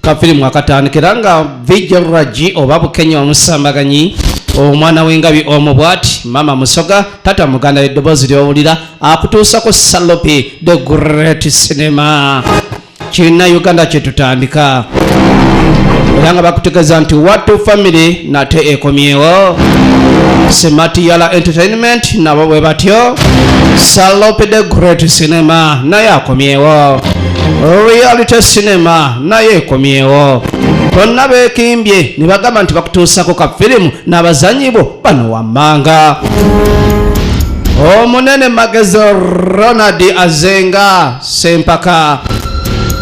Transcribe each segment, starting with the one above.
kafirimu akatandikira nga vijragi oba bukenya omusambaganyi omwana w'engabi omu bwati mama musoga tata muganda eddoboozi lyowulira akutuusako salopi the great cinema kirina uganda kyetutandika era nga bakutegeeza nti watu famiry nate ekomyewo sematiyala entertainment nabo bwe batyo salopi the great cinema naye akomyewo reality cinema naye ekomyewo bonna bekimbye ne bagamba nti bakutuusako ka firimu n'abazanyi bo bano wammanga omunene magezi ronald azenga sempaka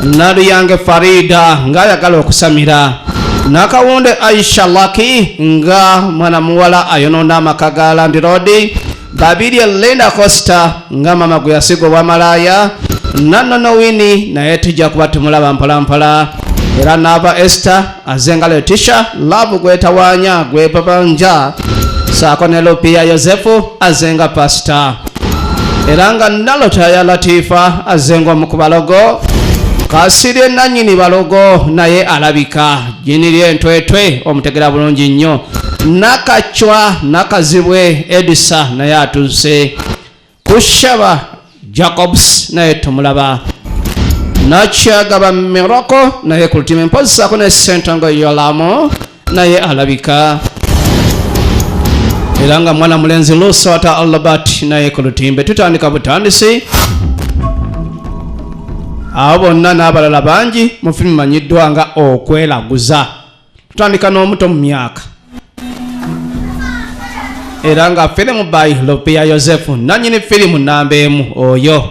naluyange farida ng'ayagala okusamira nakawunde aisha laki nga mwana muwala ayonoona amaka ga landirodi Babirye Linda Costa nga mama gwe yasiga obwamalaaya nannono wini naye tujja kuba tumulaba mpolampola era naava Esther azenga Letisha laavu gwetawaanya gwebabanja saako ne Lupiya Yosefu azenga pasita era nga nalota ya Latifa azenga omu ku balogo kasirye nannyini balogo naye alabika jiniri entwetwe omutegera bulungi nnyo nakacwa nakazibwe edisa naye atuuse kushaba jacobs naye tumulaba nakyagaba miroko naye kulutima empozisako ne sentongo yolamu naye alabika era nga mwana mulenzi lusota albert naye ku lutimbe tutandika butandisi abo bonna n'abalala bangi mu firimu manyiddwa nga okwelaguza tutandika n'omuto mu myaka era nga firimu by lopia yosefu nanyini firimu namba emu oyo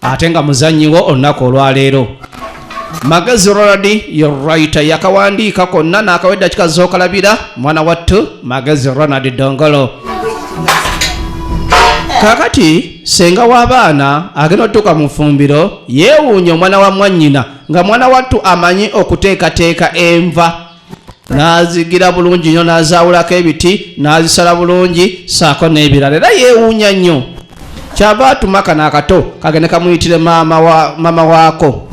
ate nga muzannyiwo olunaku olwaleero magezi roradi yorayita yakawandiika konna n'akawedda kikazookalabira mwana wattu magezi ronald dongolo kakati Ssenga w'abaana agenda otuuka mu ffumbiro yeewuunya omwana wa mwannyina nga mwana wattu amanyi okuteekateeka enva n'azigira bulungi nnyo n'azaawulako ebiti n'azisala bulungi ssaako n'ebirala era yeewuunya nnyo kyava atuma kano akato kagende kamuyitire maama waako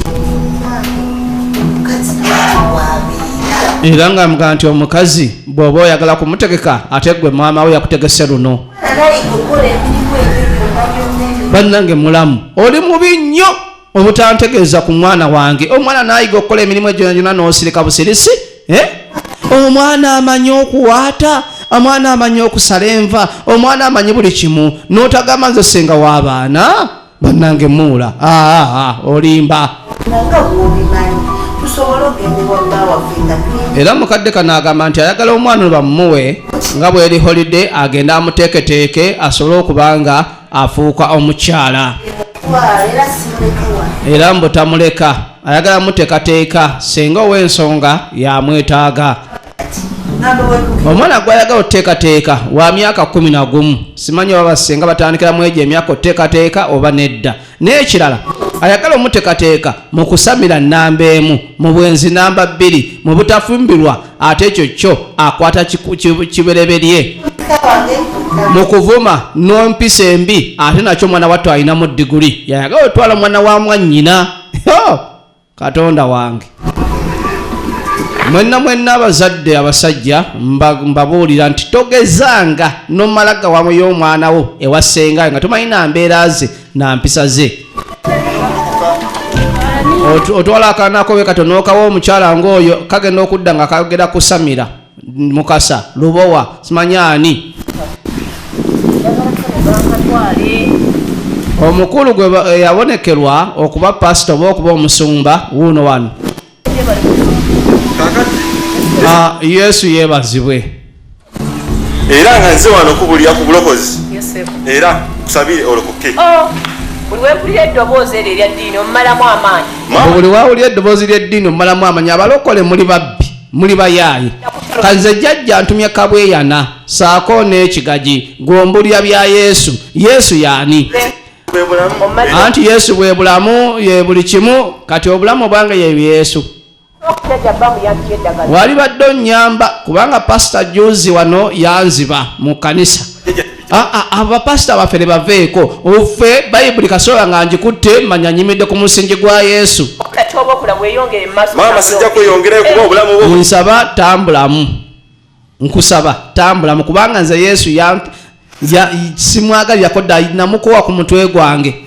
era nga mga nti omukazi bw'oba oyagala kumutegeka ate gwe maama we yakutegese luno bannange mulamu oli mubi nnyo obutantegeeza ku mwana wange omwana nayiga okukola emirimu egyonajona n'osirika busirisi eh? omwana amanyi okuwaata omwana amanyi okusala enva omwana amanyi buli kimu n'otagamba nze senga w'abaana bannange muula olimba era mukadde kano agamba nti ayagala omwana bamumuwe nga bweri holide agenda amuteeketeeke asobole okuba nga afuuka omukyala era mbutamuleka ayagala muteekateeka singa ow'ensonga yamwetaaga omwana gwayagala oteekateeka wa myaka kumi na gumu simanyi oba basinga batandikira mu egyo emyaka oteekateeka oba nedda n'ekirala ayagala omuteekateeka mu kusamira nnamba emu mu bwenzi namba bbiri mu butafumbirwa ate ekyo kyo akwata kibereberye mu kuvuma n'empisa embi ate nakyo omwana wattu alinamu diguli yayagala otwala omwana wa mwannyina katonda wange mwenna mwenna abazadde abasajja mbabuulira nti togezanga nomala gawamu y'omwana wo ewasengayo nga tomanyi nambeera ze nampisa ze otwala akanakobe katonokawo omukyala ngaoyo kagenda okudda nga kagera kusamira mukasa lubowa simanyaani omukulu gwe eh, yabonekerwa okuba pasita oba okuba omusumba wuuno wano ah, yesu yebazibwe era nga nze wano kubulira ku bulokozi era kusabire olokoke oh, buli wawulira eddoboozi ly'eddiini omumalamu amaanyi abalokole muli babbi muli bayaaye kanze jajja ntumye kabweyana saako n'ekigaji gwombulira bya yesu yesu yaani anti yesu bwe bulamu ye buli kimu kati obulamu obwange ye yesu wali badde onnyamba kubanga pasita juzi wano yanziba mu kanisa Ah, ah, abo bapasita baffe nebaveeko offe bayibuli kasobola nga ngikutte manya nyimidde ku musingi gwa yesu nsaba tambulamu nkusaba tambulamu kubanga nze yesu simwagalirako dda namukowa ku mutwe gwange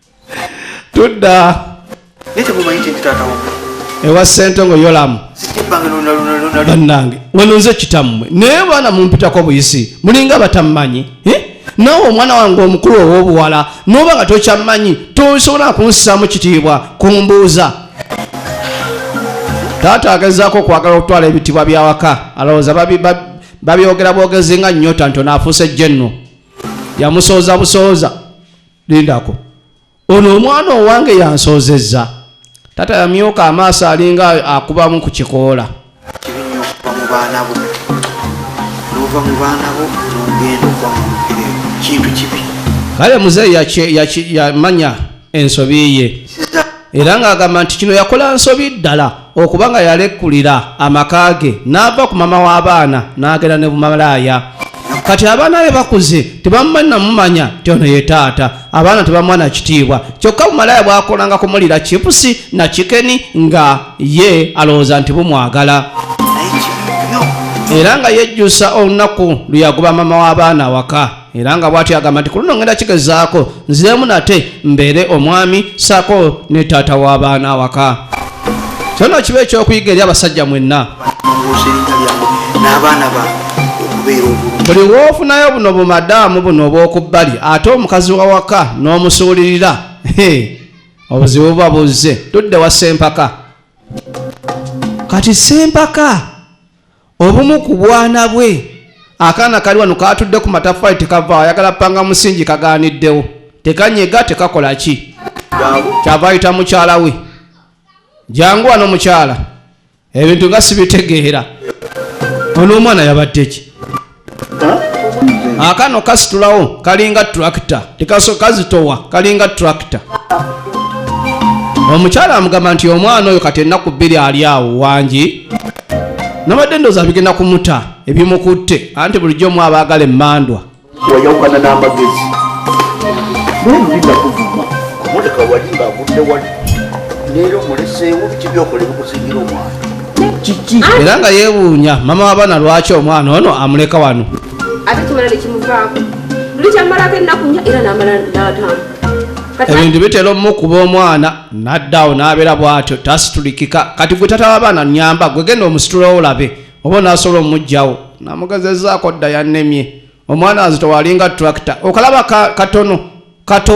tudda ewa sente ngo yolamu bannange wano nze kitammwe naye baana mumpitako buyisi mulinga batammanyi eh? nawe omwana wange omukulu ow'obuwala noba nga tokyammanyi tosobola kunsisaamu kitiibwa kumbuuza taata agezaako okwagala okutwala ebitibwa byawaka alowooza babyogera bwogezi nga nyota ntono afuuse jenno yamusooza busooza lindako ono omwana owange yansoozezza tata yamyuka amaaso alinga akubamu ku kikoola kibinya okuva mu baana bo nova mu baana bo nogenda okuba mu kintu kibi kale muzeeyi yamanya ensobi ye era ng'agamba nti kino yakola nsobi ddala okuba nga yalekulira amaka ge n'ava ku mama w'abaana n'agenda ne bumalaaya kati abaana be bakuze tebamumanyi namumanya ti ono ye taata abaana tebamuwa na kitiibwa kyokka bumalaaya bwakolanga kumulira chipusi na kikeni nga ye alowooza nti bumwagala era nga yejjusa olunaku lwe yagoba mama w'abaana awaka era nga bwatyo agamba nti ku luno ngenda kigezaako nziremu nate mbeere omwami saako ne taata w'abaana awaka kyona kiba ekyokuyiga eri abasajja mwenna n'abaana bange buli wofunayo buno bumadaamu buno obwokubbali ate omukazi wawaka n'omusuulirira obuzibu buba buzze tudde wa sempaka kati sempaka Obumu ku bwana bwe, akaana kali wano kaatudde ku mataffaali tekavaawo, ayagala panga musingi kagaaniddewo, tekanyega tekakola ki kyava ayita mukyala we, jangu wano mukyala, ebintu nga sibitegeera. Ono omwana yabadde ki? akano kasitulawo kalinga tractor tekaso kazitowa kalinga tractor omukyala amugamba nti omwana oyo kati ennaku bbiri ali awo wangi nabadde ndoza bigenda kumuta ebimukutte anti bulijjo omu abaagala emmandwa wayawukana n'amagezi nolulina kuvuma kumuleka wali ng'agudde wali leero muleseewo biki byokola ebikusingira omwana kiki era nga yeewuunya mama w'abaana lwaki omwana ono amuleka wano ate kimala nekimuvaako luli kyamalako ennaku nya era namala natamu ebintu bitera omukuba omwana naddaawo n'abeera bw'atyo tasitulikika kati gwe tata w'abaana nyamba gwe genda omusitula olabe oba onaasobola omugjawo namugezezaako dda yannemye omwana azitowalinga tracta okalaba katono kato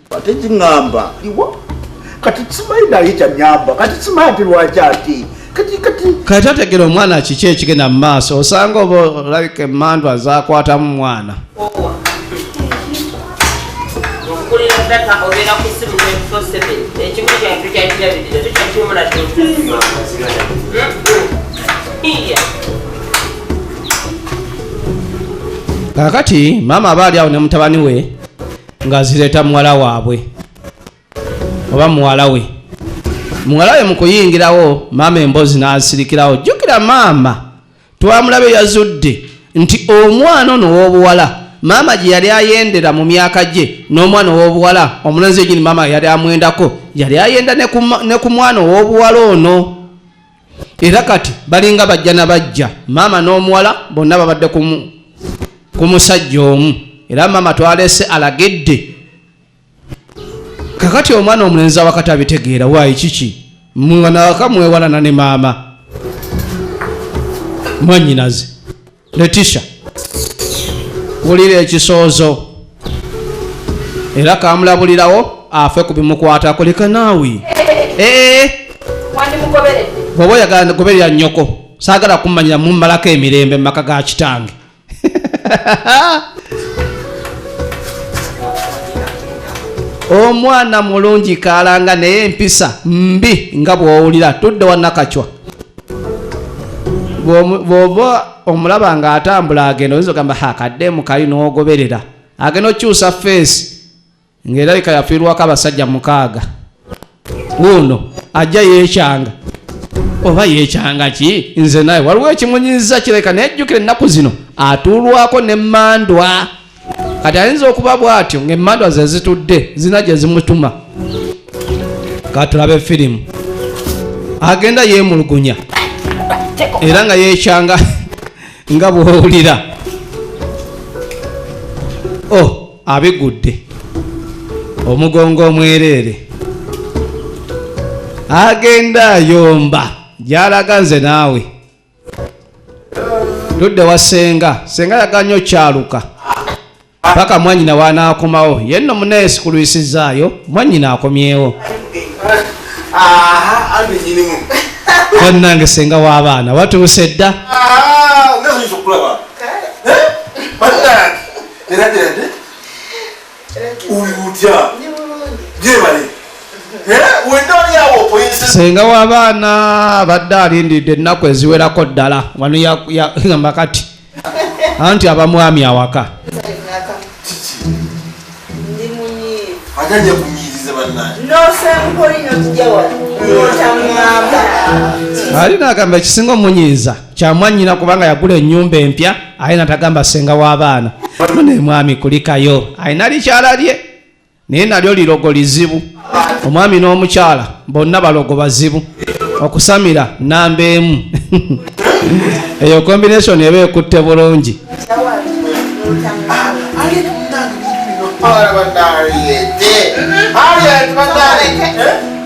ate kiŋamba iwa kati simanyi naye kyanyamba kati simanyi ati lwaki ati kati kati kati otegera omwana kiki ekigenda mu maaso osanga oba olabika emmandu azakwatamu mwana kakati maama aba ali awo ne mutabani we ng'azireeta muwala waabwe oba muwala we muwala we mu kuyingirawo maama emboozi n'asirikirawo jjukira maama twamulabe yazudde nti omwana ono ow'obuwala maama gye yali ayendera mu myaka gye n'omwana ow'obuwala omulenzi egini maama yali amwendako yali ayenda ne ku mwana ow'obuwala ono era kati balinga bajja na bajja maama n'omuwala bonna babadde ku musajja omu era maama twalese alagedde kakati omwana omulenzi awakati abitegeera waayi kiki mwanawaka mwewalana ne maama mwanyinaze Leticia wulira ekisoozo era kamulabulirawo afe ku bimukwatako leka naawe eh, eh. bwoba oyagala goberera nnyoko saagala kumanyira mummalako emirembe mu maka ga kitange omwana mulungi kaalanga naye empisa mbi nga bw'owulira tudde wanakacwa bwoba omulaba nga atambula agenda oyinza ogamba hakadde mukayi nogoberera agenda okyusa feesi ngaerabika yafiirwako abasajja mukaaga wuuno ajja yekyanga oba yekyanga ki nze naye waliwo ekimunyiza kireka naye jjukira ennaku zino atuulwako ne mandwa kati ayinza okuba bwatyo ngaemandwa ze zitudde zina gye zimutuma katulabe firimu agenda yeemulugunya era nga yeekyanga nga bwowulira o oh, abigudde omugongo omwereere agenda ayomba gyalaga nze naawe tudde wa senga senga yaganya okyaluka paka mwanyina wanaakomawo ye nno muneesi kulwisizaayo mwanyina akomyewo bannange senga w'abaana watuuse dda ah, senga wabaana abadde alindidde ennaku eziwerako ddala wano yagamba kati anti abamwami awaka ali nagamba ekisinga omunyiiza kyamwanyina kubanga yagula enyumba empya aye natagamba senga w'abaana nemwami kulikayo alina likyala lye naye nalyo lirogo lizibu omwami n'omukyala bonna balogo bazibu okusamira namba emu eyo combination eba ekutte bulungi All about that, yeah. All right, but that.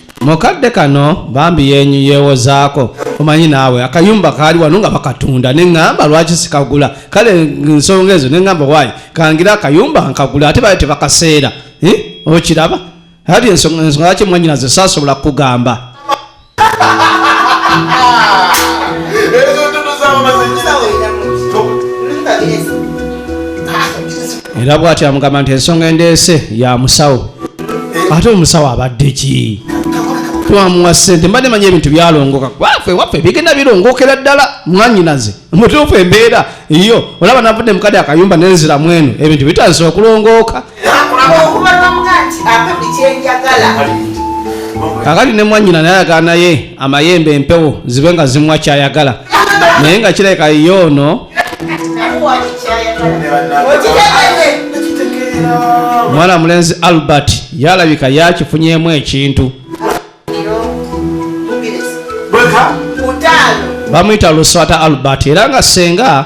mukadde kano bambi yenyu yewozaako omanyi naawe akayumba kaali wano nga bakatunda neŋŋamba lwaki sikagula kale nsonga ezo neŋŋamba waayi kangira akayumba nkagula ate bali tebakaseera eh? okiraba ali ensonga ensonga lwaki mwanyina ze saasobola kukugamba era bwati amugamba nti ensonga endeese ya musawo ate omusawo abadde ki twamuwa sente mbadde manyi ebintu byalongoka wafe wafe bigenda birongokera ddala mwanyinaze mutuufu embeera iyo olaba navudde mukade akayumba nenzira mwenu ebintu bitandise okulongooka akati ne mwanyina naye ayagala naye amayembe empewo zibe nga zimwa kyayagala naye nga kirabika ye ono omwana mulenzi albert yalabika yakifunyemu ekintu bamuyita luswata albert era nga senga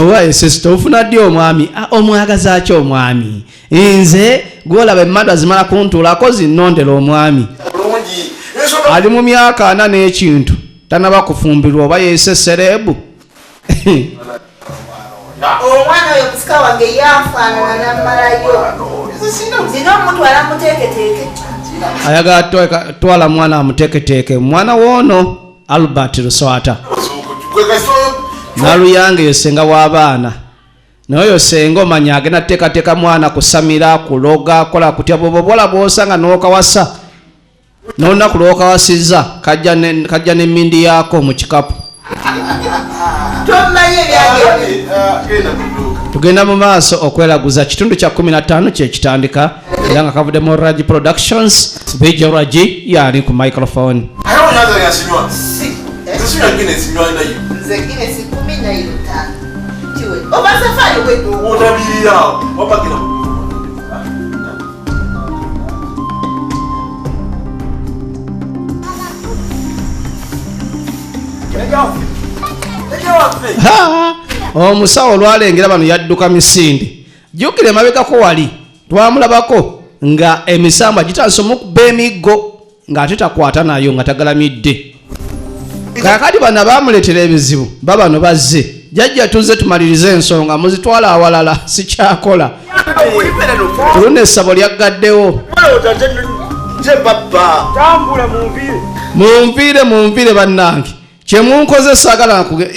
owaye sisita ofuna ddi omwami ah, omwagaza ki omwami nze gwolaba emmadu azimala kuntuulako zinnondera omwami ali mu myaka ana n'ekintu tanaba kufumbirwa oba yese serebu omwana oyo musika wange yafaanana namalayo nina omutwala muteeketeeke ayagala twala mwana amuteeketeeke mwana woono albert luswata naluyange yo senga w'abaana naye oyo senga omanya agenda teekateeka mwana kusamira kuloga kola kutya bwoba obwola bwosanga nokawasa n'olunaku lw'okawasizza kajja n'emmindi yaako mu kikapu tugenda mu maaso okwelaguza kitundu kya 15 kyekitandika era nga kavudde mu ragi productions bj ragi yaali ku microphone oba safari wedu otabirira wapakira omusawo olwalengera bano yadduka misinde jukira emabegako wali twamulabako nga emisambwa gitandise omukuba emiggo ng'ate takwata nayo nga tagalamidde kakati bana bamuletera ebizibu babano bazze jajja tuzze tumalirize ensonga muzitwala awalala sikyakola oluna essabo lyaggaddewo munviire munviire bannange kyemunkoze sagala nkuge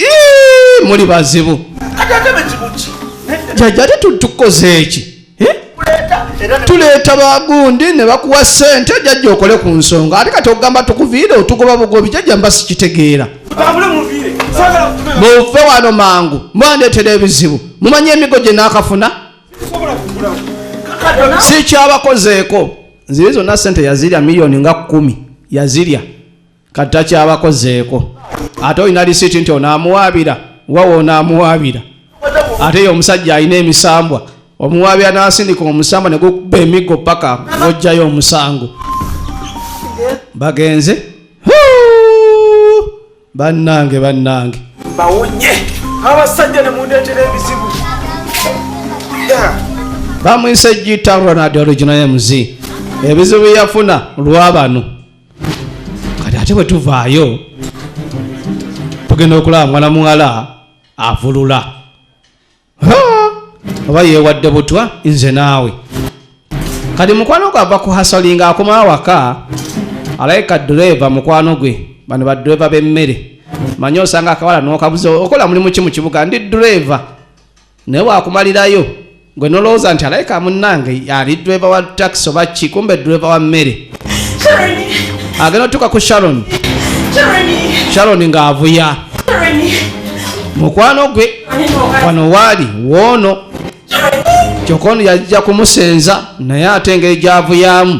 muli bazibu jaja ate tutukoze eki eh? tuleeta bagundi ne bakuwa sente jajja okole ku nsonga ate kati okugamba tukuviire otugoba bugobi jajja mba sikitegeera muve wano mangu mwandeetera ebizibu mumanyi emigo gye naakafuna sikyabakozeeko nzire zonna sente yazirya miliyoni nga kumi yazirya kati takyabakozeeko ate olina lisiiti nti onaamuwaabira wawa onaamuwaabira ate ye omusajja alina emisambwa omuwaabira n'asindika omusambwa ne gukuba emiggo paka n'ojjayo omusango bagenze bannange bannange bawonye abasajja ne mundeetera ebizibu bamwise gita ronald original mz ebizibu yafuna lwa bano kati ate bwe tuvaayo tugenda okulaba mwana muwala avulula oba yeewadde butwa nze naawe kati mukwano gwe ava ku hasolinga akoma awaka alayika dureeva mukwano gwe bano badureeva b'emmere manye osanga akawala n'okabuza okola mulimu ki mu kibuga ndi dureeva naye wakumalirayo gwe nolowooza nti alaika munnange ali driver wa taxi oba ki kumbe driver wa mmere agenda otuuka ku sharon sharon ng'avuya mukwano gwe wano waali woono kyokka ono yajja kumusenza naye ate engeri gyavuyaamu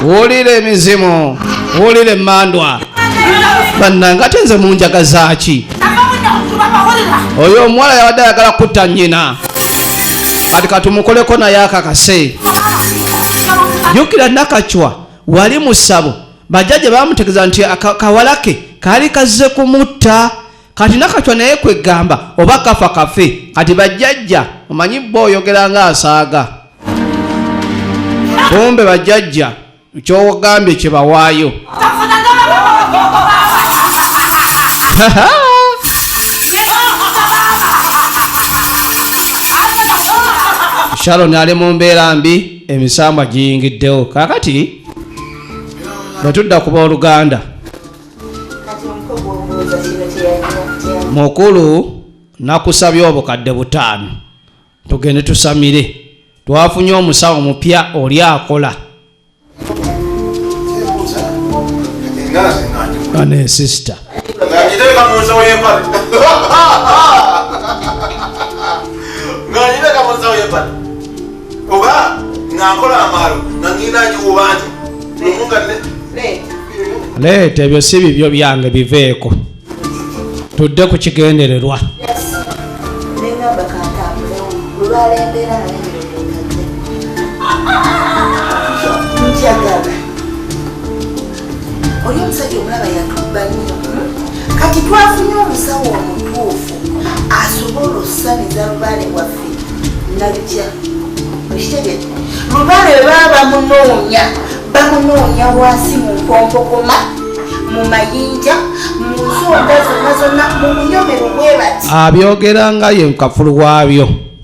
wulira emizimu wulira emandwa bannange ate nze munjaga zaaki oyo omuwala yabadde ayagala kutta nnyina kati katumukoleko naye akakase jukira nakacwa wali musabo bajja gye bamutegeza nti kawalake kaali kazze kumutta kati nakacwa naye kwegamba oba kafa kafe kati bajjajja omanyi bo oyogera nga asaaga kumbe bajjajja kyogambye kyebawaayo sharon ali mu mbeera mbi emisambwa giyingiddewo kakati bwetudda kuba oluganda mukulu nakusabye obukadde butaano tugende tusamire twafunye omusawo mupya oli akola ane sister oba ng'akola amaalo nga ngenda ngiwuba nti omunga leeta ebyo si bibyo byange biveeko tudde ku kigendererwa oli omusajja omulaba yatubba nnyo kati twafunye omusawo omutuufu asobola okusamiza lubaale waffe nalutya okitegete lubaale baba bamunoonya bamunoonya wansi mu mpompokoma mu mayinja mu nsonda zonna zonna mu bunyomero bwe bati abyogera nga ye mukafulu waabyo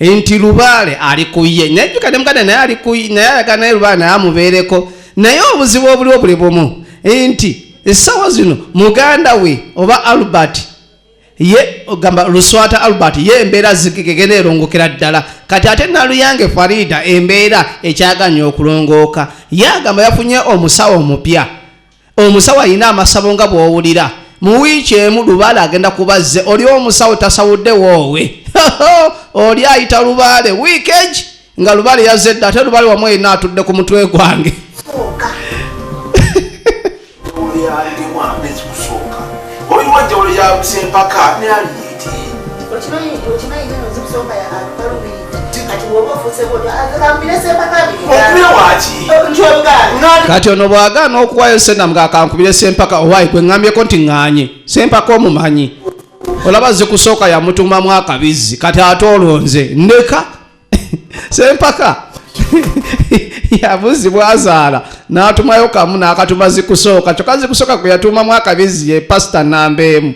nti lubaale ali ku ye naye jjuka ne muganda naye ali ku naye ayagala naye lubaale naye amubeereko naye obuzibu obuliwo buli bumu nti essaawa zino muganda we oba albert ye ogamba luswata albert ye embeera zigegena erongokera ddala kati ate naluyange farida embeera ekyaganya okulongooka ye agamba yafunye omusawo omupya omusawo alina amasabo nga bwowulira mu wiiki emu lubaale agenda kubazze oli omusawo tasawudde woowe oli ayita lubaale wiikegi nga lubaale yazze dda ate lubaale wamu erina atudde ku mutwe gwange Waliwo enjawulo ya Sempaka ne Aliyeti. Okimanyi okimanyi nyo nzibu soka ya Aliyeti. kati ono bwagaana okuwayo sena mga akankubire sempaka owayi kweŋambyeko nti ŋanye sempaka omumanyi olaba zikusooka yamutumamu akabizzi kati ate olwo nze ndeka sempaka yabuzi bwazaala n'atumayo kamu n'akatuma zikusooka kyokka zikusooka gwe yatuumamu akabizi ye pasita namba emu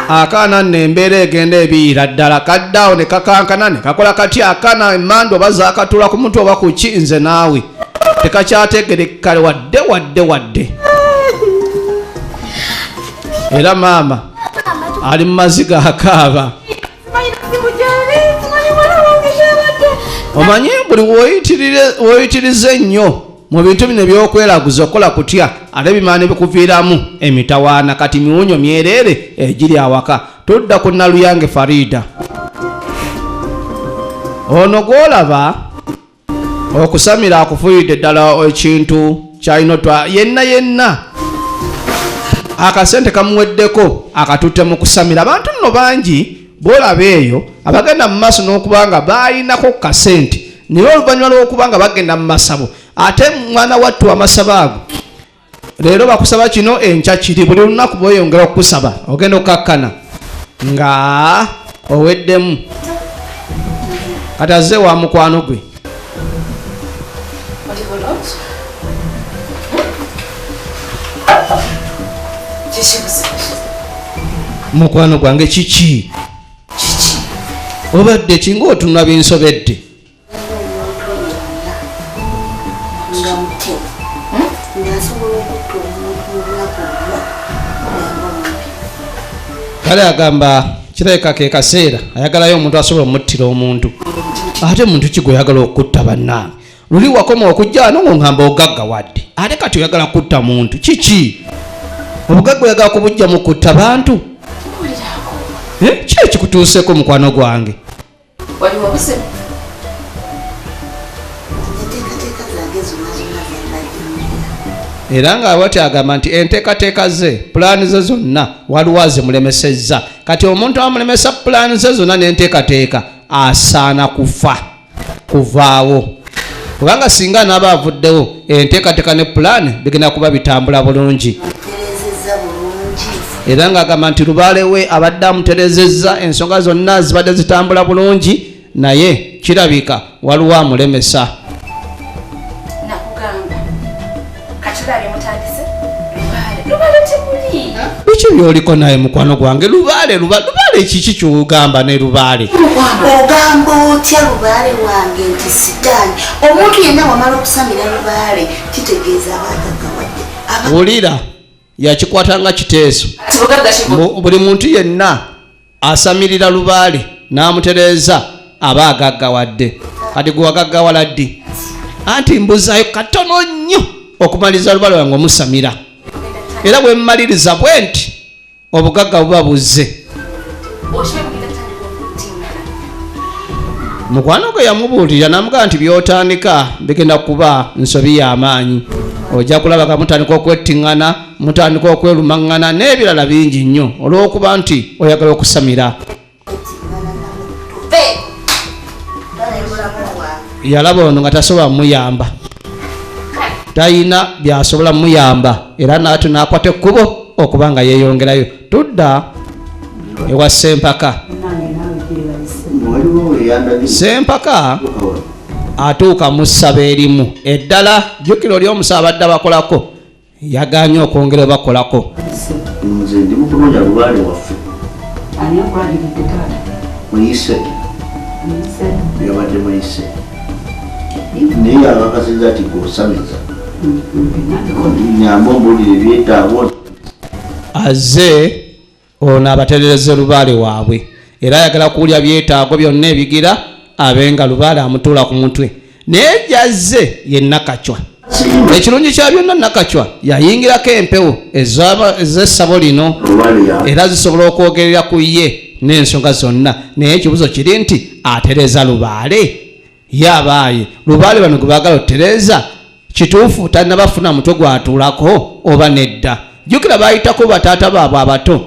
akaana nno embeera egenda ebiira ddala kaddaawo ne kakankana ne kakola kati akaana emmandu oba zakatula ku mutwe oba ku ki nze naawe tekakyategerekale wadde wadde wadde era maama ali mu maziga akaaba omanyi buli woyitiriza ennyo mu bintu bino ebyokwelaguza okola kutya ate bimaana ebikuviiramu emitawaana kati miwunyo myereere egiri awaka tudda ku naluyange farida ono gwolaba okusamira akufuyidde ddala ekintu kyalina otwa yenna yenna akasente kamuweddeko akatutte mu kusamira abantu nno bangi bwolaba eyo abagenda mu maaso n'okuba nga balinako ku kasente naye oluvannyuma lw'okuba nga bagenda mu masabo ate mwana wattu amasabo ago leero bakusaba kino enkya kiri buli lunaku bweyongera okukusaba ogenda okukakkana nga oweddemu kati azze wa mukwano gwe mukwano gwange kiki obadde kinga otunula binsobedde kale agamba kirabika ke kaseera ayagalayo omuntu asobola omuttira omuntu ate muntu kigwe oyagala okutta bannange luli wakoma okujja ano ng'oŋamba ogagga wadde ate kati oyagala kutta muntu kiki obugagga oyagala kubujjamu kutta bantu eh, ki ekikutuuseeko mukwano gwange wali wabuse enteekateeka zange zonna zonna zembadde era nga wati agamba nti enteekateeka ze pulaani ze zonna waliwo azimulemesezza kati omuntu amulemesa pulaani ze zonna n'enteekateeka asaana kufa kuvaawo kubanga singa anaaba avuddewo enteekateeka ne pulaani bigenda kuba bitambula bulungi era ng'agamba nti lubaale we abadde amuterezezza ensonga zonna zibadde zitambula bulungi naye kirabika waliwo amulemesa Biki byoliko naye mukwano gwange lubaale lubaale lubaale kiki kyogamba ne lubaale ogamba otya lubaale wange nti sitaani omuntu yenna wamala okusamira lubaale kitegeeza abagagawadde wulira yakikwata nga kiteeso buli muntu yenna asamirira lubaale n'amutereeza aba agaggawadde kati gwe wagaggawala ddi anti mbuzayo katono nnyo okumaliriza lubaale wange omusamira era bwe mmaliriza bwe nti obugagga buba buzze mukwano gwe yamubuulirira namugaa nti byotandika bigenda kuba nsobi y'amaanyi ojja kulaba nga mutandika okwettiŋŋana mutandika okwelumaŋŋana n'ebirala bingi nnyo olw'okuba nti oyagala okusamira yalaba ono nga tasobola muyamba talina byasobola muyamba era naati nakwata ekkubo okuba nga yeeyongerayo tudda ewa sempaka sempaka atuuka mu ssaba erimu eddala jjukira oli omusa abadde abakolako yaganye okwongera bakolako naye yabakasiza ti gosamiza nyamba ombulire byetaawo azze ono abaterereze lubaale waabwe era ayagala kuwulya byetaago byonna ebigira abe nga lubaale amutuula ku mutwe naye gyazze ye nakacwa ekirungi kya byonna nakacwa yayingirako empewo ez'essabo lino era zisobola okwogerera ku ye n'ensonga zonna naye ekibuzo kiri nti atereza lubaale ye abaaye lubaale bano gwe baagala otereeza kituufu tannabafuna mutwe gwatuulako oba nedda jjukira baayitako bataata baabwe abato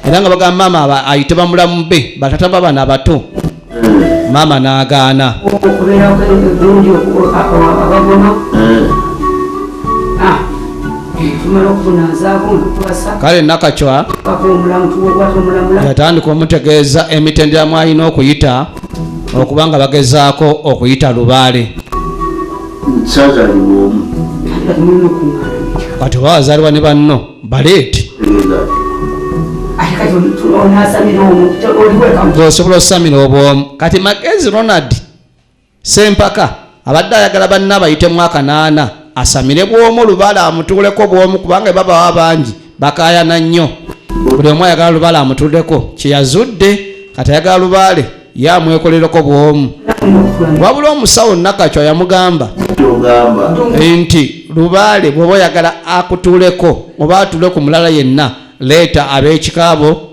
era nga bagamba maama ayite bamulamu be bataata baabana abato maama n'agaana kale nakacwa yatandika omutegeeza emitendera mwalina okuyita okuba nga bagezaako okuyita lubaale kati oba wazaalibwa ne banno baleeti osobola osamira obwomu kati magezi ronald sempaka abadde ayagala banne abayitemu akanaana asamire bwomu lubala amutuuleko bwomu kubanga babawa bangi bakayana nnyo buli omu ayagala lubala amutuuleko kyeyazudde kati ayagala lubaale ye amwekolereko bwomu wabula omusawo nakacwa yamugamba nti lubaale bwoba oyagala akutuuleko oba atuule ku mulala yenna leeta ab'ekikaabo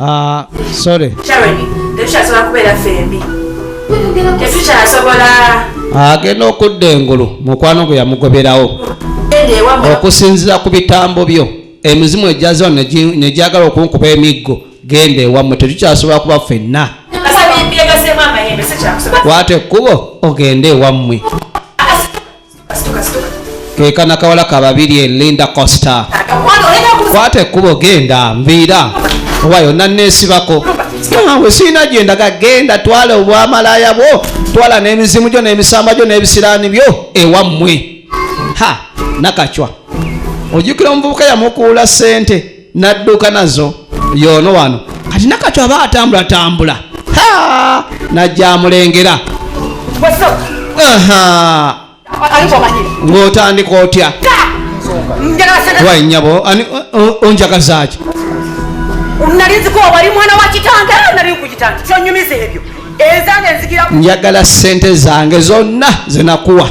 Ah, sorry. Charity, tetushasobola kubeera fembi. Tetushasobola. Agenda ah, okudda engulu mukwano gwe yamugoberawo okusinzira ku bitambo byo emizimu egyaziwa negyagala okunkuba emiggo genda ewammwe tetukyasobola kuba fenna kwata ekkubo ogende ewammwe kekana kawala kababiri e linda costa kwata ekkubo genda mviira oba yonna neesibako we siina gyendaga genda twala obwamalaya bwo twala n'emizimu gyo n'emisamba gyo n'ebisiraani byo ewammwe ha nakacwa ojjukira omuvubuka yamukuula ssente nadduka nazo yoono wano kati nakati aba atambula tambula najjamulengera ng'otandika otya wainyabo onjagazaki nalinziko wali mwana wa kitange nali kukitange kyonyumiza ebyo ezange nzikira njagala sente zange zonna zenakuwa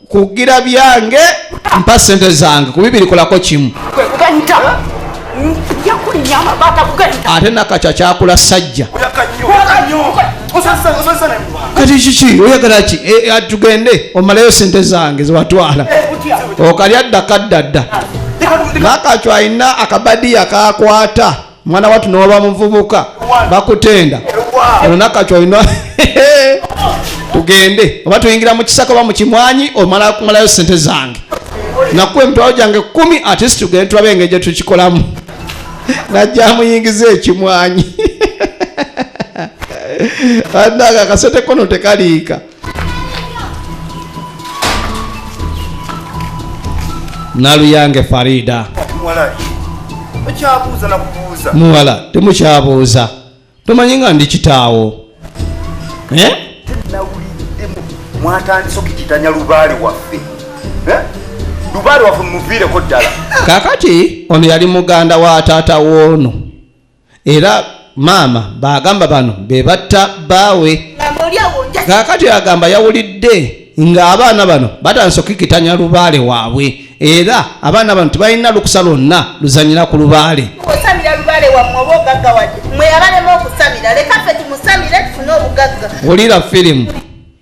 kugira byange mpa sente zange kubibiri kolako kimu ate nakakya kyakula sajja kati kiki oyagala ki eh, eh, tugende omalayo sente zange zewatwala eh, okalya dda kaddadda nakakyo alina akabadiya kakwata mwana watu newaba muvubuka bakutenda olunakati olina tugende oba tuyingira mu kisaka oba mu kimwanyi omala kumalayo sente zange nakuwa emitwalo gyange kumi atisi tugende tulabe engeri gye tukikolamu najja muyingiza ekimwanyi ananga akasente kono tekaliika naluyange farida muwala temukyabuuza tomanyi nga ndi kitaawo eh? mwatandise okukitanya lubaale waffe eh? lubaale waffe mumuviireko ddala kakati ono yali muganda wa taata woono era maama baagamba bano be batta bbaawe kaakati agamba yawulidde ng'abaana bano batandise okukikitanya lubaale waabwe era abaana bano tebalina lukusa lwonna luzanyira ku lubaale wulira firimu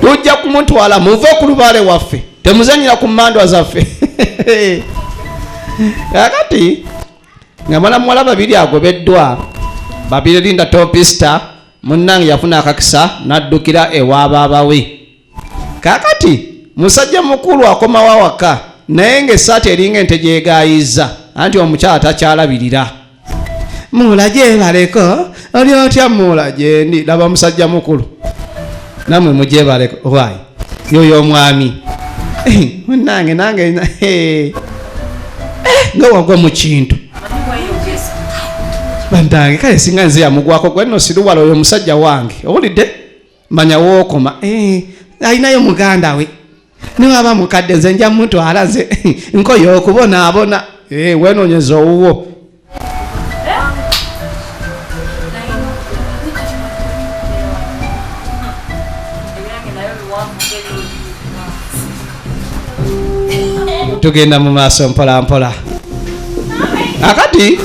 tujja kumutwala muve ku lubaale waffe temuzanyira ku mandwa zaffe kakati nga mwana muwala babiri agobeddwa babiri linda topista munnange yafuna akakisa n'addukira ewa baabawe kakati musajja mukulu akomawo awaka naye ngaesaati eringa ente gyegayizza anti omukyala takyalabirira muula gyebaleko oli otya muula gyendi laba musajja mukulu namwe mugyebaleko wy yoyo omwami munange nange eh, nga wagwa mu kintu bantange kale singa nze yamugwako gwenno siruwala oyo omusajja wange owulidde manya wookoma eh, alinayo muganda we niwaba mukadde nze nja mutwala nze nkoye okubonaabona eh, wenonyeza owuwo tugenda mu maaso mpola mpola akati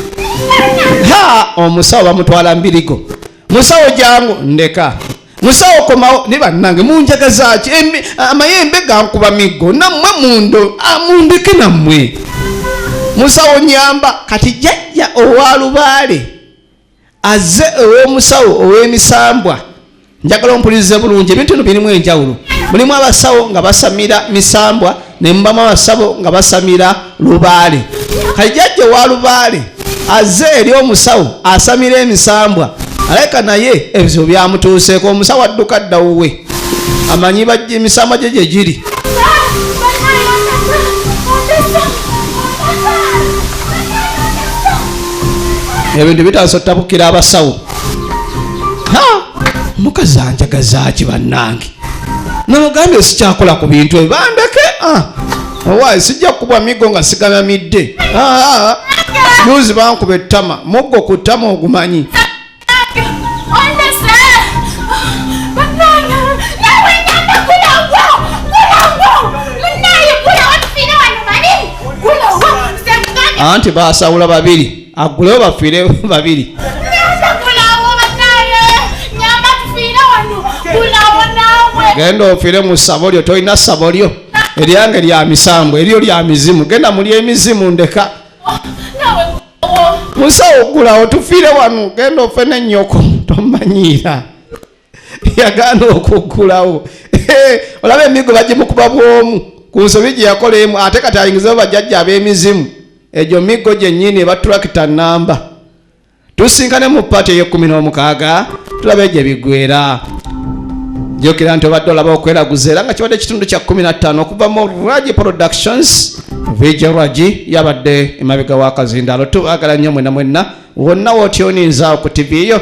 ha omusawo bamutwala mbirigo musawo jangu ndeka musawo komawo ne bannange munjagazaaki amayembe gankuba miggo nammwe mundo amundeke nammwe musawo nyamba kati jajja owa lubaale azze ew'omusawo ow'emisambwa njagala ompulirize bulungi ebintu bino birimu enjawulo mulimu abasawo nga basamira misambwa ne mubama basabo nga basamira lubaale kajjajja wa lubaale aze eri omusawo asamira emisambwa aleka naye ebizibu byamutuuseeko omusawo adduka dda wuwe amanyi emisambwa gye gye giri ebintu bitandisa otabukira abasawo mukazi anjagazaaki bannange namugambye sikyakola ku bintu ebyo bandeke ah, owaye sijja kukubwa miggo nga sigalamidde ah, juzi bankuba ettama muggo ku ttama ogumanyi anti basawula babiri agulewo bafiire babiri genda ofire mu ssabo lyo tolina ssabo lyo eryange lya misambo eryo lya mizimu genda muli emizimu ndeka musawo ogulawo tufiire wano genda ofe nenyoko tomanyiira yagaana okuggulawo olaba emigo bagimukuba bwomu ku nsobi gye yakola emu ate kati ayingizewo bajjajja ab'emizimu egyo miggo gyennyini eba tulakita namba tusinkane mu paati ey'ekkumi n'omukaaga tulaba egyo ebiggwera jukira nti obadde olaba okweraguza era nga kibadde ekitundu kya 15 okuva mu ragi productions vija ragi yabadde emabega wakazindaalo tubagala nnyo mwena mwena wonna wotyoninzaawo ku tivi yo